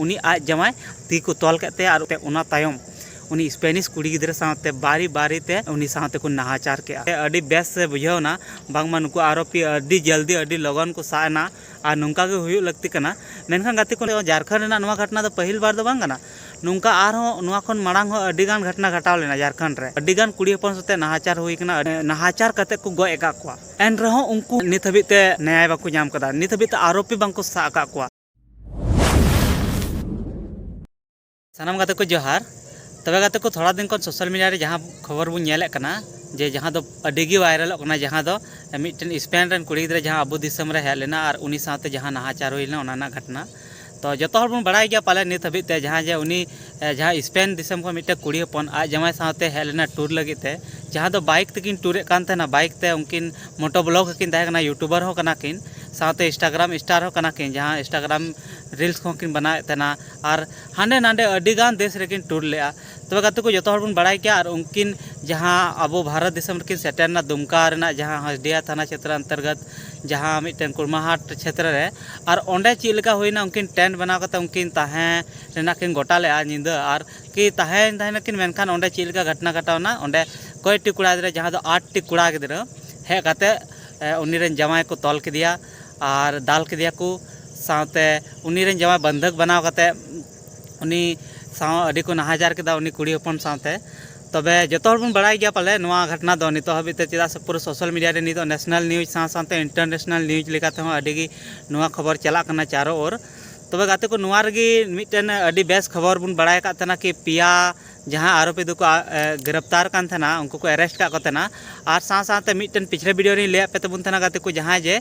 ᱩᱱᱤ ᱟᱡ ᱡᱟᱶᱟᱭ ᱛᱤ ᱠᱚ ᱛᱚᱞ ᱠᱮᱫ ᱛᱟᱭᱟ ᱟᱨ ᱚᱱᱟ ᱛᱟᱭᱚᱢ ᱩᱱᱤ ᱥᱯᱮᱱᱤᱥ ᱠᱩᱲᱤ ᱜᱤᱫᱽᱨᱟᱹ ᱥᱟᱶᱛᱮ ᱵᱟᱨᱤ ᱵᱟᱨᱤ ᱛᱮ ᱩᱱᱤ ᱥᱟᱶᱛᱮ ᱠᱚ ᱱᱟᱦᱟᱪᱟᱨ ᱠᱮᱫᱼᱟ᱾ ᱟᱹᱰᱤ ᱵᱮᱥ ᱵᱩᱡᱷᱟᱹᱣ ᱮᱱᱟ ᱵᱟᱝᱢᱟ ᱱᱩᱠᱩ ᱟᱨᱳᱯᱤ ᱟᱹᱰᱤ ᱡᱚᱞᱫᱤ ᱟᱹᱰᱤ ᱞᱚᱜᱚᱱ ᱠᱚ ᱥᱟᱵ ᱮᱱᱟ ᱟᱨ ᱱᱚᱝᱠᱟ ᱜᱮ ᱦᱩᱭᱩᱜ ᱞᱟᱹᱠᱛᱤ ᱠᱟᱱᱟ᱾ ᱢᱮᱱᱠᱷᱟᱱ ᱜᱟᱛᱮ ᱠᱚ, ᱡᱷᱟᱨᱠᱷᱚᱸᱰ ᱨᱮᱱᱟᱜ ᱱᱚᱶᱟ ᱜᱷᱚᱴᱱᱟ ᱫᱚ ᱯᱟᱹᱦᱤᱞ ᱵᱟᱨ ᱫᱚ ᱵᱟᱝ ᱠᱟᱱᱟ᱾ ᱱᱚᱝᱠᱟ ᱟᱨᱦᱚᱸ ᱱᱚᱶᱟ ᱠᱷᱚᱱ ᱢᱟᱲᱟᱝ ᱦᱚᱸ ᱟᱹᱰᱤ ᱜᱟᱱ ᱜᱷᱚᱴᱱᱟ ᱜᱷᱚᱴᱟᱣ ᱞᱮᱱᱟ ᱡᱷᱟᱨᱠᱷᱚᱸᱰ ᱨᱮ᱾ ᱟᱹᱰᱤ ᱜᱟᱱ ᱠᱩᱲᱤ ᱦᱚᱯᱚᱱ ᱥᱟᱶᱛᱮ ᱱᱟᱦᱟᱪᱟᱨ ᱦᱩᱭ ᱟᱠᱟᱱᱟ᱾ ᱱᱟᱦᱟᱪᱟᱨ ᱠᱟᱛᱮ ᱠᱚ ᱜᱚᱡ ᱟᱠᱟᱫ ᱠᱚᱣᱟ᱾ ᱮᱱ ᱨᱮᱦᱚᱸ ᱩᱱᱠᱩ ᱱᱤᱛ ᱦᱟᱹᱵᱤᱡ ᱛᱮ ᱱᱮᱭᱟᱭ ᱵᱟᱠᱚ ᱧᱟᱢ ᱟᱠᱟᱫᱟ᱾ ᱱᱤᱛ ᱦᱟᱹᱵᱤᱡ ᱛᱮ ᱟᱨᱳᱯᱤ ᱵᱟᱝ ᱠᱚ ᱥᱟᱵ ᱟᱠᱟᱫ ᱠᱚᱣᱟ᱾ ᱥᱟᱱᱟᱢ ᱜᱟᱛᱮ ᱠᱚ ᱡᱚᱦᱟᱨ ᱛᱚᱵᱮ ᱜᱟᱛᱮ ᱠᱚ ᱛᱷᱚᱲᱟ ᱫᱤᱱ ᱠᱷᱚᱱ ᱥᱳᱥᱟᱞ ᱢᱤᱰᱤᱭᱟ ᱨᱮ ᱡᱟᱦᱟᱸ ᱠᱷᱚᱵᱚᱨ ᱵᱚᱱ ᱧᱮᱞᱮᱫ ᱠᱟᱱᱟ ᱡᱮ ᱡᱟᱦᱟᱸ ᱫᱚ ᱟᱹᱰᱤ ᱜᱮ ᱵᱷᱟᱭᱨᱟᱞᱚᱜ ᱠᱟᱱᱟ ᱡᱟᱦᱟᱸ ᱫᱚ ᱢᱤᱫᱴᱮᱱ ᱥᱯᱮᱱ ᱨᱮᱱ ᱠᱩᱲᱤ ᱜᱤᱫᱽᱨᱟᱹ ᱡᱟᱦᱟᱸ ᱟᱵᱚ ᱫᱤᱥᱚᱢ ᱨᱮ ᱦᱮᱡ ᱞᱮᱱᱟ ᱟᱨ ᱩᱱᱤ ᱥᱟᱶᱛᱮ ᱡᱟᱦᱟᱸ ᱱᱟᱦᱟᱪᱟᱨ ᱦᱩᱭ ᱞᱮᱱᱟ ᱚᱱᱟ ᱨᱮᱱᱟᱜ ᱜᱷᱚᱴᱱᱟ ᱛᱚ ᱡᱚᱛᱚ ᱦᱚᱲ ᱵᱚᱱ ᱵᱟᱲᱟᱭ ᱜᱮᱭᱟ ᱯᱟᱞᱮ ᱱᱤᱛ ᱦᱟᱹᱵᱤᱡ ᱛᱮ ᱡᱟᱦᱟᱸ ᱡᱮ ᱩᱱᱤ ᱡᱟᱦᱟᱸ ᱥᱯᱮᱱ ᱫᱤᱥᱚᱢ ᱠᱷᱚᱱ ᱢᱤᱫᱴᱮᱱ ᱠᱩᱲᱤ ᱦᱚᱯᱚᱱ ᱟᱡ ᱡᱟᱶᱟᱭ ᱥᱟᱶᱛᱮ ᱦᱮᱡ ᱞᱮᱱᱟ ᱴᱩᱨ ᱞᱟᱹᱜᱤᱫ ᱛᱮ ᱡᱟᱦᱟᱸ ᱫᱚ ᱵᱟᱭᱤᱠ ᱛᱮᱠᱤᱱ ᱴᱩᱨᱮᱫ ᱠᱟᱱ ᱛᱟᱦᱮᱱᱟ ᱵᱟᱭᱤᱠ ᱛᱮ ᱩᱱᱠᱤᱱ ᱢᱚᱴᱳ ᱵᱞᱚᱠ ᱦᱚᱸᱠᱤᱱ ᱛᱟᱦᱮᱸ ᱠᱟᱱᱟ ᱤᱭᱩᱴᱩᱵᱟᱨ ᱦᱚᱸ ᱠᱟᱱᱟ ᱠᱤᱱ ᱥᱟᱶᱛᱮ ᱤᱱᱥᱴᱟᱜᱨᱟᱢ ᱥᱴᱟᱨ ᱦᱚᱸ ᱠᱟᱱᱟ ᱠᱤᱱ ᱡᱟᱦᱟᱸ ᱤᱱᱥᱴᱟᱜᱨᱟᱢ ᱨᱤᱞᱥ ᱠᱚᱦᱚᱸ ᱠᱤᱱ ᱵᱮᱱᱟᱣᱮᱫ ᱛᱟᱦᱮᱱᱟ ᱟᱨ ᱦᱟᱸᱰᱮ ᱱᱟᱰᱮ ᱟᱹᱰᱤ ᱜᱟᱱ ᱫᱮᱥ ᱨᱮᱠᱤᱱ ᱴᱩᱨ ᱞᱮᱫᱼᱟ ᱛᱚᱵᱮ ᱜᱟᱛᱮ ᱠᱚ ᱡᱚᱛᱚ ᱦᱚᱲ ᱵᱚᱱ ᱵᱟᱲᱟᱭ ᱜᱮᱭᱟ ᱟᱨ ᱩᱱᱠᱤᱱ ᱡᱟᱦᱟᱸ ᱟᱵᱚ ᱵᱷᱟᱨᱚᱛ ᱫᱤᱥᱚᱢ ᱨᱮᱠᱤᱱ ᱥᱮᱴᱮᱨ ᱞᱮᱱᱟ ᱫᱩᱢᱠᱟ ᱨᱮᱱᱟᱜ ᱡᱟᱦᱟᱸ ᱦᱚᱞᱫᱤᱭᱟ ᱛᱷᱟᱱᱟ ᱪᱷᱮᱛᱨᱚ ᱚᱱᱛᱚᱨᱜᱚᱛ ᱡᱟᱦᱟᱸ ᱢᱤᱫᱴᱮᱱ ᱠᱩᱲᱢᱟᱦᱟᱴ ᱪᱷᱮᱛᱨᱚ ᱨᱮ ᱟᱨ ᱚᱸᱰᱮ ᱪᱮᱫ ᱞᱮᱠᱟ ᱦᱩᱭᱱᱟ ᱩᱱᱠᱤᱱ ᱴᱮᱱᱴ ᱵᱮᱱᱟᱣ ᱠᱟᱛᱮᱫ ᱩᱱᱠᱤᱱ ᱛᱟᱦᱮᱸ ᱨᱮᱱᱟᱜ ᱠᱤᱱ ᱜᱚᱴᱟ ᱞᱮᱫᱼᱟ ᱧᱤᱫᱟᱹ ᱟᱨ ᱠᱤ ᱛᱟᱦᱮᱸᱭᱮᱱ ᱛᱟᱦᱮᱱᱟᱠᱤᱱ ᱢᱮᱱᱠᱷᱟᱱ ᱚᱸᱰᱮ ᱪᱮᱫ ᱞᱮᱠᱟ ᱜᱷᱚᱴᱚᱱᱟ ᱜᱷᱚᱴᱟᱣᱱᱟ ᱚᱸᱰᱮ ᱠᱚᱭᱮᱠᱴᱤ ᱠᱚᱲᱟ ᱜᱤᱫᱽᱨᱟᱹ ᱡᱟᱦᱟᱸ ᱫᱚ ᱟᱴ ᱴᱤ ᱠᱚᱲᱟ ᱜᱤᱫᱽᱨᱟᱹ ᱦᱮᱡ ᱠᱟᱛᱮ ᱩᱱᱤ ᱨᱮᱱ ᱡᱟᱶᱟᱭ ᱠᱚ ᱛᱚᱞ ᱠᱮᱫᱮᱭᱟ ᱟᱨ ᱫᱟᱞ ᱠᱮᱫᱮᱭᱟ ᱠᱚ ᱥᱟᱶᱛᱮ ᱩᱱᱤ ᱨᱮᱱ ᱡᱟᱶᱟᱭ ᱵᱚᱱᱫᱷᱚᱠ ᱵᱮᱱᱟᱣ ᱠᱟᱛᱮ ᱩᱱᱤ ᱥᱟᱶ ᱟᱹᱰᱤ ᱠᱚ ᱱᱟᱦᱟᱪᱟᱨ ᱠᱮᱫᱟ ᱩᱱᱤ ᱠᱩᱲᱤ ᱦᱚᱯᱚᱱ ᱥᱟᱶᱛᱮ ᱛᱚᱵᱮ ᱡᱚᱛᱚ ᱦᱚᱲ ᱵᱚᱱ ᱵᱟᱲᱟᱭ ᱜᱮᱭᱟ ᱯᱟᱞᱮ ᱱᱚᱣᱟ ᱜᱷᱚᱴᱚᱱᱟ ᱫᱚ ᱱᱤᱛᱚᱜ ᱦᱟᱹᱵᱤᱡ ᱛᱮ ᱪᱮᱫᱟᱜ ᱥᱮ ᱯᱩᱨᱟᱹ ᱥᱳᱥᱟᱞ ᱢᱤᱰᱤᱭᱟ ᱨᱮ ᱱᱤᱛᱚᱜ ᱱᱮᱥᱱᱮᱞ ᱱᱤᱭᱩᱡᱽ ᱥᱟᱶ ᱥᱟᱶᱛᱮ ᱤᱱᱴᱟᱨᱱᱮᱥᱱᱮᱞ ᱱᱤᱭᱩᱡᱽ ᱞᱮᱠᱟᱛᱮ ᱦᱚᱸ ᱟᱹᱰᱤ ᱜᱮ ᱱᱚᱣᱟ ᱠᱷᱚᱵᱚᱨ ᱪᱟᱞᱟᱜ ᱠᱟᱱᱟ ᱪᱟᱨᱳ ᱳᱨ ᱛᱚᱵᱮ ᱜᱟᱛᱮ ᱠᱚ ᱱᱚᱣᱟ ᱨᱮᱜᱮ ᱢᱤᱫᱴᱮᱱ ᱟᱹᱰᱤ ᱵᱮᱥ ᱠᱷᱚᱵᱚᱨ ᱵᱚᱱ ᱵᱟᱲᱟᱭ ᱟᱠᱟᱫ ᱛᱟᱦᱮᱱᱟ ᱠᱤ ᱯᱮᱭᱟ ᱡᱟᱦᱟᱸ ᱟᱨᱳᱯᱤ ᱫᱚᱠᱚ ᱜᱨᱮᱯᱛᱟᱨ ᱠᱟᱱ ᱛᱟᱦᱮᱱᱟ ᱩᱱᱠᱩ ᱠᱚ ᱮᱨᱮᱥᱴ ᱠᱟᱜ ᱠᱚ ᱛᱟᱦᱮᱱᱟ ᱟᱨ ᱥᱟᱶ ᱥᱟᱶᱛᱮ ᱢᱤᱫᱴᱮᱱ ᱯᱤᱪᱷᱞᱮ ᱵᱷᱤᱰᱤᱭᱳ ᱨᱤᱧ ᱞᱟᱹᱭᱟᱫ ᱯᱮ ᱛᱟᱵᱚᱱ ᱛᱟᱦᱮᱱᱟ ᱜᱟᱛᱮ ᱠᱚ ᱡᱟᱦᱟᱸᱭ ᱡᱮ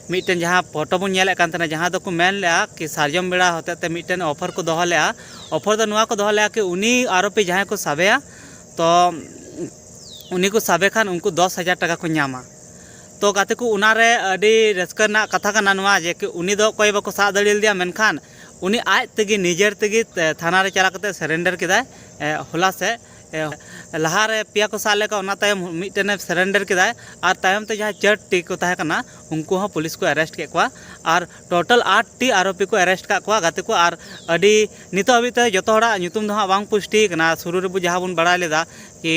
ᱢᱤᱫᱴᱮᱱ ᱡᱟᱦᱟᱸ ᱯᱷᱳᱴᱳ ᱵᱚᱱ ᱧᱮᱞᱮᱫ ᱠᱟᱱ ᱛᱟᱦᱮᱱᱟ ᱡᱟᱦᱟᱸ ᱫᱚᱠᱚ ᱢᱮᱱ ᱞᱮᱫᱼᱟ ᱠᱤ ᱥᱟᱨᱡᱚᱢ ᱵᱮᱲᱟ ᱦᱚᱛᱮᱡ ᱛᱮ ᱢᱤᱫᱴᱮᱱ ᱚᱯᱷᱟᱨ ᱠᱚ ᱫᱚᱦᱚ ᱞᱮᱫᱼᱟ ᱚᱯᱷᱟᱨ ᱫᱚ ᱱᱚᱣᱟ ᱠᱚ ᱫᱚᱦᱚ ᱞᱮᱫᱼᱟ ᱠᱤ ᱩᱱᱤ ᱟᱨᱳᱯᱤ ᱡᱟᱦᱟᱸᱭ ᱠᱚ ᱥᱟᱵᱮᱭᱟ ᱛᱚ ᱩᱱᱤ ᱠᱚ ᱥᱟᱵᱮ ᱠᱷᱟᱱ ᱩᱱᱠᱩ ᱫᱚᱥ ᱦᱟᱡᱟᱨ ᱴᱟᱠᱟ ᱠᱚ ᱧᱟᱢᱟ ᱛᱚ ᱜᱟᱛᱮ ᱠᱚ ᱚᱱᱟ ᱨᱮ ᱟᱹᱰᱤ ᱨᱟᱹᱥᱠᱟᱹ ᱨᱮᱱᱟᱜ ᱠᱟᱛᱷᱟ ᱠᱟᱱᱟ ᱱᱚᱣᱟ ᱡᱮ ᱩᱱᱤ ᱫᱚ ᱚᱠᱚᱭ ᱵᱟᱠᱚ ᱥᱟᱵ ᱫᱟᱲᱮ ᱞᱮᱫᱮᱭᱟ ᱢᱮᱱᱠᱷᱟᱱ ᱩᱱᱤ ᱟᱡ ᱛᱮᱜᱮ ᱱᱤᱡᱮᱨ ᱛᱮᱜᱮ ᱛᱷᱟᱱᱟ ᱨᱮ ᱪᱟᱞᱟᱣ ᱠᱟᱛᱮᱫ ᱥᱮᱨᱮᱱᱰᱟᱨ ᱠᱮᱫᱟᱭ ᱦᱚᱞᱟ ᱥᱮᱫ ᱞᱟᱦᱟ ᱨᱮ ᱯᱮᱭᱟ ᱠᱚ ᱥᱟᱵ ᱞᱮᱫ ᱠᱚᱣᱟ ᱚᱱᱟ ᱛᱟᱭᱚᱢ ᱢᱤᱫᱴᱮᱱᱮ ᱥᱮᱨᱮᱱᱰᱟᱨ ᱠᱮᱫᱟᱭ ᱟᱨ ᱛᱟᱭᱚᱢ ᱛᱮ ᱡᱟᱦᱟᱸᱭ ᱪᱟᱹᱨ ᱴᱤ ᱠᱚ ᱛᱟᱦᱮᱸ ᱠᱟᱱᱟ ᱩᱱᱠᱩ ᱦᱚᱸ ᱯᱩᱞᱤᱥ ᱠᱚ ᱮᱨᱮᱥᱴ ᱠᱮᱫ ᱠᱚᱣᱟ ᱟᱨ ᱴᱳᱴᱟᱞ ᱟᱴ ᱴᱤ ᱟᱨᱳᱯᱤ ᱠᱚ ᱮᱨᱮᱥᱴ ᱟᱠᱟᱫ ᱠᱚᱣᱟ ᱜᱟᱛᱮ ᱠᱚ ᱟᱨ ᱟᱹᱰᱤ ᱱᱤᱛᱚᱜ ᱦᱟᱹᱵᱤᱡ ᱛᱮ ᱡᱚᱛᱚ ᱦᱚᱲᱟᱜ ᱧᱩᱛᱩᱢ ᱫᱚ ᱦᱟᱸᱜ ᱵᱟᱝ ᱯᱩᱥᱴᱤ ᱟᱠᱟᱱᱟ ᱥᱩᱨᱩ ᱨᱮᱵᱚ ᱡᱟᱦᱟᱸ ᱵᱚᱱ ᱵᱟᱲᱟᱭ ᱞᱮᱫᱟ ᱠᱤ